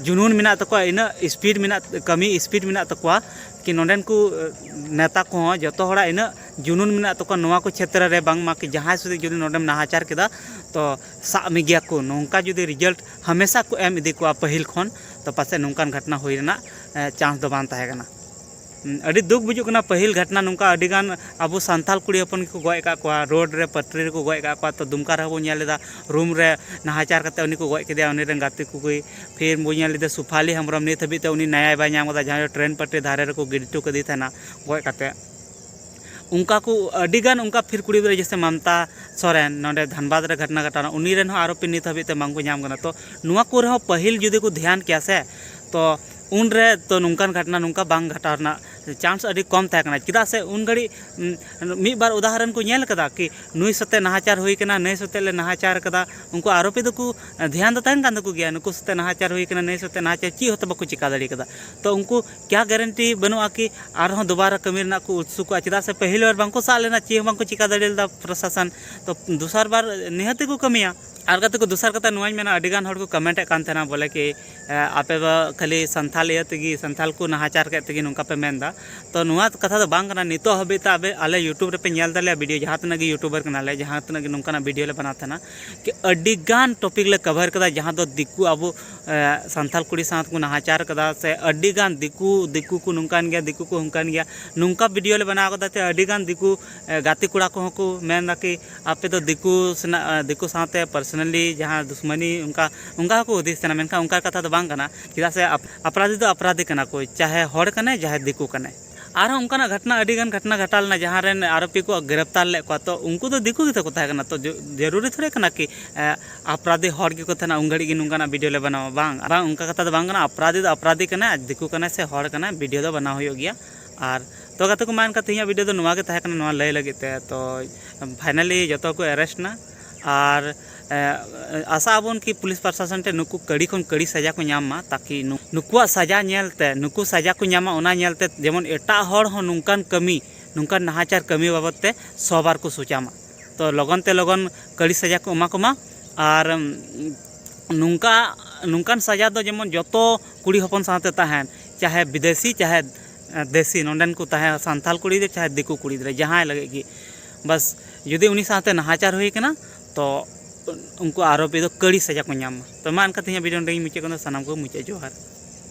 ᱡᱩᱱᱩᱱ ᱢᱮᱱᱟᱜ ᱛᱟᱠᱚᱣᱟ ᱤᱱᱟᱹᱜ ᱤᱥᱯᱤᱰ ᱢᱮᱱᱟᱜ ᱠᱟᱹᱢᱤ ᱤᱥᱯᱤᱰ ᱢᱮᱱᱟᱜ ᱛᱟᱠᱚᱣᱟ ᱠᱤ ᱱᱚᱰᱮᱱ ᱠᱚ ᱱᱮᱛᱟ ᱠᱚᱦᱚᱸ ᱡᱚᱛᱚ ᱦᱚᱲᱟᱜ ᱤᱱᱟᱹᱜ ᱡᱩᱱᱩᱱ ᱢᱮᱱᱟᱜ ᱛᱟᱠᱚᱣᱟ ᱱᱚᱣᱟ ᱠᱚ ᱪᱷᱮᱛᱨᱚ ᱨᱮ ᱵᱟᱝᱢᱟ ᱡᱟᱦᱟᱸᱭ ᱥᱩᱫᱷᱩ ᱡᱩᱫᱤ ᱱᱚᱰᱮᱢ ᱱᱟᱦᱟᱪᱟᱨ ᱠᱮᱫᱟ ᱛᱚ ᱥᱟᱵ ᱢᱮᱜᱮᱭᱟ ᱠᱚ ᱱᱚᱝᱠᱟ ᱡᱩᱫᱤ ᱨᱮᱡᱟᱞᱴ ᱦᱟᱢᱮᱥᱟ ᱠᱚ ᱮᱢ ᱤᱫᱤ ᱠᱚᱣᱟ ᱯᱟᱹᱦᱤᱞ ᱠᱷᱚᱱ ᱛᱚ ᱯᱟᱥᱮᱡ ᱱᱚᱝᱠᱟᱱ ᱜᱷᱚᱴᱚᱱᱟ ᱦᱩᱭ ᱨᱮᱱᱟᱜ ᱪᱟᱱᱥ ᱫᱚ ᱵᱟᱝ ᱛᱟᱦᱮᱸ ᱠᱟᱱᱟ ᱟᱹᱰᱤ ᱫᱩᱠ ᱵᱩᱡᱩᱜ ᱠᱟᱱᱟ ᱯᱟᱹᱦᱤᱞ ᱜᱷᱚᱴᱚᱱᱟ ᱱᱚᱝᱠᱟ ᱟᱹᱰᱤ ᱜᱟᱱ ᱟᱵᱚ ᱥᱟᱱᱛᱟᱲ ᱠᱩᱲᱤ ᱦᱚᱯᱚᱱ ᱜᱮᱠᱚ ᱜᱚᱡ ᱟᱠᱟᱫ ᱠᱚᱣᱟ ᱨᱳᱰ ᱨᱮ ᱯᱟᱹᱴᱨᱤ ᱨᱮᱠᱚ ᱜᱚᱡ ᱟᱠᱟᱫ ᱠᱚᱣᱟ ᱛᱚ ᱫᱩᱢᱠᱟ ᱨᱮᱦᱚᱸ ᱵᱚᱱ ᱧᱮᱞ ᱞᱮᱫᱟ ᱨᱩᱢ ᱨᱮ ᱱᱟᱦᱟᱪᱟᱨ ᱠᱟᱛᱮ ᱩᱱᱤ ᱠᱚ ᱜᱚᱡ ᱠᱮᱫᱮᱭᱟ ᱩᱱᱤ ᱨᱮᱱ ᱜᱟᱛᱮ ᱠᱚᱜᱮ ᱯᱷᱤᱨ ᱵᱚᱱ ᱧᱮᱞ ᱞᱮᱫᱮᱭᱟ ᱥᱩᱯᱷᱟᱞᱤ ᱦᱮᱢᱵᱨᱚᱢ ᱱᱤᱛ ᱦᱟᱹᱵᱤᱡ ᱛᱮ ᱩᱱᱤ ᱱᱮᱭᱟᱭ ᱵᱟᱭ ᱧᱟᱢ ᱟᱠᱟᱫᱟ ᱡᱟᱦᱟᱸᱭ ᱫᱚ ᱴᱨᱮᱱ ᱯᱟᱹᱴᱨᱤ ᱫᱷᱟᱨᱮ ᱨᱮᱠᱚ ᱜᱤᱰᱤ ᱦᱚᱴᱚ ᱠᱟᱫᱮ ᱛᱟᱦᱮᱱᱟ ᱜᱚᱡ ᱠᱟᱛᱮ ᱚᱱᱠᱟ ᱠᱚ ᱟᱹᱰᱤ ᱜᱟᱱ ᱚᱱᱠᱟ ᱯᱷᱤᱨ ᱠᱩᱲᱤ ᱜᱤᱫᱽᱨᱟᱹ ᱡᱮᱭᱥᱮ ᱢᱟᱢᱛᱟ ᱥᱚᱨᱮᱱ ᱱᱚᱰᱮ ᱫᱷᱟᱱᱵᱟᱫᱽ ᱨᱮ ᱜᱷᱚᱴᱚᱱᱟ ᱜᱷᱚᱴᱟᱣᱱᱟ ᱩᱱᱤ ᱨᱮᱱ ᱦᱚᱸ ᱟᱨᱚ ᱯᱷᱤᱨ ᱱᱤᱛ ᱦᱟᱹᱵᱤᱡ ᱛᱮ ᱵᱟᱝ ᱠᱚ ᱧᱟᱢ ᱠᱟᱱᱟ ᱛᱚ ᱱᱚᱣᱟ ᱠᱚᱨᱮ ᱦᱚᱸ ᱯᱟᱹᱦᱤᱞ ᱡᱩᱫᱤ ᱠᱚ ᱫᱷᱮᱭᱟᱱ ᱠᱮᱭᱟ ᱥᱮ ᱛᱚ ᱩᱱ ᱨᱮ ᱛᱚ ᱱᱚᱝᱠᱟᱱ ᱜᱷᱚᱴᱚᱱᱟ ᱱᱚᱝᱠᱟ ᱵᱟᱝ ᱜᱷᱚᱴᱟᱣ ᱨᱮᱱᱟᱜ ᱪᱟᱱᱥ ᱟᱹᱰᱤ ᱠᱚᱢ ᱛᱟᱦᱮᱸ ᱠᱟᱱᱟ ᱪᱮᱫᱟᱜ ᱥᱮ ᱩᱱ ᱜᱷᱟᱹᱲᱤᱡ ᱢᱤᱫ ᱵᱟᱨ ᱩᱫᱟᱦᱚᱨᱚᱱ ᱠᱚ ᱧᱮᱞ ᱠᱟᱫᱟ ᱠᱤ ᱱᱩᱭ ᱥᱟᱛᱮᱜ ᱱᱟᱦᱟᱪᱟᱨ ᱦᱩᱭ ᱠᱟᱱᱟ ᱱᱩᱭ ᱥᱟᱛᱮᱜ ᱞᱮ ᱱᱟᱦᱟᱪᱟᱨ ᱠᱟᱫᱟ ᱩᱱᱠᱩ ᱟᱨᱳᱯᱤ ᱫᱚᱠᱚ ᱫᱷᱮᱭᱟᱱ ᱫᱚ ᱛᱟᱦᱮᱱ ᱠᱟᱱ ᱛᱟᱠᱚ ᱜᱮᱭᱟ ᱱᱩᱠᱩ ᱥᱟᱛᱮᱜ ᱱᱟᱦᱟᱪᱟᱨ ᱦᱩᱭ ᱠᱟᱱᱟ ᱱᱩᱭ ᱥᱟᱛᱮᱜ ᱱᱟᱦᱟᱪᱟᱨ ᱪᱮᱫ ᱦᱚᱸᱛᱚ ᱵᱟᱠᱚ ᱪᱤᱠᱟᱹ ᱫᱟᱲᱮ ᱠᱟᱫᱟ ᱛᱚ ᱩᱱᱠᱩ ᱠᱮᱭᱟ ᱜᱮᱨᱮᱱᱴᱤ ᱵᱟᱹᱱᱩᱜᱼᱟ ᱠᱤ ᱟᱨᱦᱚᱸ ᱫᱚᱵᱟᱨᱟ ᱠᱟᱹᱢᱤ ᱨᱮᱱᱟᱜ ᱠᱚ ᱩᱛᱥᱩᱠᱚᱜᱼᱟ ᱪᱮᱫᱟᱜ ᱥᱮ ᱯᱟᱹᱦᱤᱞ ᱵᱟᱨ ᱵᱟᱝᱠᱚ ᱥᱟᱵ ᱞᱮᱱᱟ ᱪᱮᱫ ᱦᱚᱸ ᱵᱟᱝᱠᱚ ᱪᱤᱠᱟᱹ ᱫᱟᱲᱮ ᱞᱮᱫᱟ ᱯᱨᱚᱥᱟᱥᱚᱱ ᱛᱚ ᱫᱚᱥᱟᱨ ᱵᱟᱨ ᱱᱤᱦᱟᱹᱛ ᱜᱮᱠᱚ ᱠᱟᱹᱢᱤᱭᱟ ᱟᱨ ᱜᱟᱛᱮ ᱠᱚ ᱫᱚᱥᱟᱨ ᱠᱟᱛᱷᱟ ᱱᱚᱣᱟᱧ ᱢᱮᱱᱟ ᱟᱹᱰᱤ ᱜᱟᱱ ᱦᱚᱲ ᱠᱚ ᱠᱚᱢᱮᱱᱴ ᱮᱫ ᱠᱟᱱ ᱛᱟᱦᱮᱱᱟ ᱵᱚᱞᱮ ᱠᱤ ᱟᱯᱮ ᱫᱚ ᱠᱷᱟᱹᱞᱤ ᱥᱟᱱᱛᱟᱲ ᱤᱭᱟᱹ ᱛᱮᱜᱮ ᱥᱟᱱᱛᱟᱲ ᱠᱚ ᱱᱟᱦᱟᱪᱟᱨ ᱠᱮᱫ ᱛᱮᱜᱮ ᱱᱚᱝᱠᱟ ᱯᱮ ᱢᱮᱱ ᱮᱫᱟ ᱛᱚ ᱱᱚᱣᱟ ᱠᱟᱛᱷᱟ ᱫᱚ ᱵᱟᱝ ᱠᱟᱱᱟ ᱱᱤᱛᱚᱜ ᱦᱟᱹᱵᱤᱡ ᱛᱮ ᱟᱯᱮ ᱟᱞᱮ ᱤᱭᱩᱴᱩᱵᱽ ᱨᱮᱯᱮ ᱧᱮᱞ ᱫᱟᱞᱮᱭᱟ ᱵᱷᱤᱰᱤᱭᱳ ᱡᱟᱦᱟᱸ ᱛᱤᱱᱟᱹᱜ ᱜᱮ ᱤᱭᱩᱴᱩᱵᱟᱨ ᱠᱟᱱᱟᱞᱮ ᱡᱟᱦᱟᱸ ᱛᱤᱱᱟᱹᱜ ᱜᱮ ᱱᱚᱝᱠᱟᱱᱟᱜ ᱵᱷᱤᱰᱤᱭᱳ ᱞᱮ ᱵᱮᱱᱟᱣ ᱛᱟᱦᱮᱱᱟ ᱠᱤ ᱟᱹᱰᱤ ᱜᱟᱱ ᱴᱚᱯᱤᱠ ᱞᱮ ᱠᱚᱵᱷᱟᱨ ᱠᱟᱫᱟ ᱡᱟᱦᱟᱸ ᱫᱚ ᱫᱤᱠᱩ ᱟᱵᱚ ᱥᱟᱱᱛᱟᱲ ᱠᱩᱲᱤ ᱥᱟᱶ ᱛᱮᱠᱚ ᱱᱟᱦᱟᱪᱟᱨ ᱠᱟᱫᱟ ᱥᱮ ᱟᱹᱰᱤ ᱜᱟᱱ ᱫᱤᱠᱩ ᱫᱤᱠᱩ ᱠᱚ ᱱᱚᱝᱠᱟᱱ ᱜᱮᱭᱟ ᱫᱤᱠᱩ ᱠᱚ ᱦᱟᱱᱠᱟᱱ ᱜᱮᱭᱟ ᱱᱚᱝᱠᱟ ᱵᱷᱤᱰᱭᱳ ᱞᱮ ᱵᱮᱱᱟᱣ ᱠᱟᱫᱟ ᱡᱮ ᱟᱹᱰᱤ ᱜᱟᱱ ᱫᱤᱠᱩ ᱜᱟᱛᱮ ᱠᱚᱲᱟ ᱠᱚᱦᱚᱸ ᱠᱚ ᱢᱮᱱ ᱫᱟᱠᱚ ᱟᱯᱮ ᱫᱚ ᱫᱤᱠᱩ ᱥᱮᱱᱟᱜ ᱫᱤᱠᱩ ᱥᱟᱶᱛᱮ ᱯᱟᱨᱥᱳᱱᱟᱞᱤ ᱡᱟᱦᱟᱸ ᱫᱩᱥᱢᱟᱹᱱᱤ ᱚᱱᱠᱟ ᱚᱱᱠᱟ ᱦᱚᱸᱠᱚ ᱦᱩᱫᱤᱥ ᱛᱟᱦᱮᱱᱟ ᱢᱮᱱᱠᱷᱟᱱ ᱚᱱᱠᱟ ᱠᱟᱛᱷᱟ ᱫᱚ ᱵᱟᱝ ᱠᱟᱱᱟ ᱪᱮᱫᱟᱜ ᱥᱮ ᱟᱯᱨᱟᱫᱷᱤ ᱫᱚ ᱟᱯᱨᱟᱫᱷᱤ ᱠᱟᱱᱟ ᱠᱚ ᱪᱟᱦᱮ ᱦᱚᱲ ᱠᱟᱱᱟᱭ ᱪᱟᱦᱮ ᱫᱤᱠᱩ ᱠᱟᱱᱟᱭ ᱟᱨᱦᱚᱸ ᱚᱱᱠᱟᱱᱟᱜ ᱜᱷᱚᱴᱚᱱᱟ ᱟᱹᱰᱤ ᱜᱟᱱ ᱜᱷᱚᱴᱚᱱᱟ ᱜᱷᱚᱴᱟᱣ ᱞᱮᱱᱟ ᱡᱟᱦᱟᱸ ᱨᱮᱱ ᱟᱨᱳᱯᱤ ᱠᱚ ᱜᱨᱮᱯᱷᱛᱟᱨ ᱞᱮᱫ ᱠᱚᱣᱟ ᱛᱚ ᱩᱱᱠᱩ ᱫᱚ ᱫᱤᱠᱩ ᱜᱮᱛᱚ ᱠᱚ ᱛᱟᱦᱮᱸ ᱠᱟᱱᱟ ᱛᱚ ᱡᱟᱹᱨᱩᱨᱤ ᱛᱷᱚᱲᱮ ᱠᱟᱱᱟ ᱠᱤ ᱟᱯᱨᱟᱫᱷᱤ ᱦᱚᱲ ᱜᱮᱠᱚ ᱛᱟᱦᱮᱱᱟ ᱩᱱ ᱜᱷᱟᱹᱲᱤᱡ ᱜᱮ ᱱᱚᱝᱠᱟᱱᱟᱜ ᱵᱷᱤᱰᱭᱳ ᱞᱮ ᱵᱮᱱᱟᱣᱟ ᱵᱟᱝ ᱵᱟᱝ ᱚᱱᱠᱟ ᱠᱟᱛᱷᱟ ᱫᱚ ᱵᱟᱝ ᱠᱟᱱᱟ ᱟᱯᱨᱟᱫᱷᱤ ᱫᱚ ᱟᱯᱨᱟᱫᱷᱤ ᱠᱟᱱᱟᱭ ᱟᱨ ᱫᱤᱠᱩ ᱠᱟᱱᱟᱭ ᱥᱮ ᱦᱚᱲ ᱠᱟᱱᱟᱭ ᱵᱷᱤᱰᱭᱳ ᱫᱚ ᱵᱮᱱᱟᱣ ᱦᱩᱭᱩᱜ ᱜᱮᱭᱟ ᱟᱨ ᱛᱚ ᱜᱟᱛᱮ ᱠᱚ ᱢᱟ ᱮᱱᱠᱷᱟᱱ ᱛᱮᱦᱮᱧᱟᱜ ᱵᱷᱤᱰᱭᱳ ᱫᱚ ᱱᱚᱣᱟ ᱜᱮ ᱛᱟᱦᱮᱸ ᱠᱟᱱᱟ ᱱᱚᱣᱟ ᱞᱟᱹᱭ ᱞᱟᱹᱜᱤᱫ ᱛᱮ ᱛᱚ ᱯᱷᱟᱭᱱᱟᱞᱤ ᱡᱚᱛᱚ ᱠᱚ ᱮᱨᱮᱥᱴ ᱮᱱᱟ ᱟᱨ ᱟᱥᱟᱜ ᱟᱵᱚᱱ ᱠᱤ ᱯᱩᱞᱤᱥ ᱯᱨᱚᱥᱟᱥᱚᱱ ᱴᱷᱮᱱ ᱱᱩᱠᱩ ᱠᱟᱹᱲᱤ ᱠᱷᱚᱱ ᱠᱟᱹᱲᱤ ᱥᱟᱡᱟ ᱠᱚ ᱧᱟᱢ ᱢᱟ ᱛᱟᱠᱤ ᱱᱩᱠᱩᱣᱟᱜ ᱥᱟᱡᱟ ᱧᱮᱞ ᱛᱮ ᱱᱩᱠᱩ ᱥᱟᱡᱟ ᱠᱚ ᱧᱟᱢᱟ ᱚᱱᱟ ᱧᱮᱞ ᱛᱮ ᱡᱮᱢᱚᱱ ᱮᱴᱟᱜ ᱦᱚᱲ ᱦᱚᱸ ᱱᱚᱝᱠᱟᱱ ᱠᱟᱹᱢᱤ ᱱᱚᱝᱠᱟᱱ ᱱᱟᱦᱟᱪᱟᱨ ᱠᱟᱹᱢᱤ ᱵᱟᱵᱚᱫ ᱛᱮ ᱥᱚ ᱵᱟᱨ ᱠᱚ ᱥᱚᱪᱟᱣ ᱢᱟ ᱛᱚ ᱞᱚᱜᱚᱱ ᱛᱮ ᱞᱚᱜᱚᱱ ᱠᱟᱹᱲᱤ ᱥᱟᱡᱟ ᱠᱚ ᱮᱢᱟ ᱠᱚᱢᱟ ᱟᱨ ᱱᱚᱝᱠᱟ ᱱᱚᱝᱠᱟᱱ ᱥᱟᱡᱟ ᱫᱚ ᱡᱮᱢᱚᱱ ᱡᱚᱛᱚ ᱠᱩᱲᱤ ᱦᱚᱯᱚᱱ ᱥᱟᱶᱛᱮ ᱛᱟᱦᱮᱱ ᱪᱟᱦᱮ ᱵᱤᱫᱮᱥᱤ ᱪᱟᱦᱮ ᱫᱮᱥᱤ ᱱᱚᱰᱮᱱ ᱠᱚ ᱛᱟᱦᱮᱸ ᱥᱟᱱᱛᱟᱲ ᱠᱩᱲᱤ ᱜᱤᱫᱽᱨᱟᱹ ᱪᱟᱦᱮ ᱫᱤᱠᱩ ᱠᱩᱲᱤ ᱜᱤᱫᱽᱨᱟᱹ ᱡᱟᱦᱟᱸᱭ ᱞᱟᱹᱜᱤᱫ ᱜᱮ ᱵᱟᱥ ᱡᱩᱫᱤ ᱩᱱᱤ ᱥᱟᱶᱛᱮ ᱱᱟᱦᱟᱪᱟᱨ ᱦᱩᱭ ᱠᱟᱱᱟ ᱛᱚ ᱩᱱᱠᱩ ᱟᱨᱳᱯᱤ ᱫᱚ ᱠᱟᱹᱲᱤ ᱥᱟᱡᱟ ᱠᱚ ᱧᱟᱢ ᱢᱟ ᱛᱚ ᱢᱟ ᱮᱱᱠᱷᱟᱱ ᱛᱮᱦᱮᱧᱟᱜ ᱵᱷᱤᱰᱤᱭᱳ ᱱᱚᱰᱮ ᱜᱮᱧ ᱢᱩᱪᱟᱹᱫ ᱠᱟᱱᱟ ᱥᱟᱱᱟᱢ ᱠᱚᱜᱮ ᱢᱩᱪᱟᱹᱫ ᱡᱚᱦᱟᱨ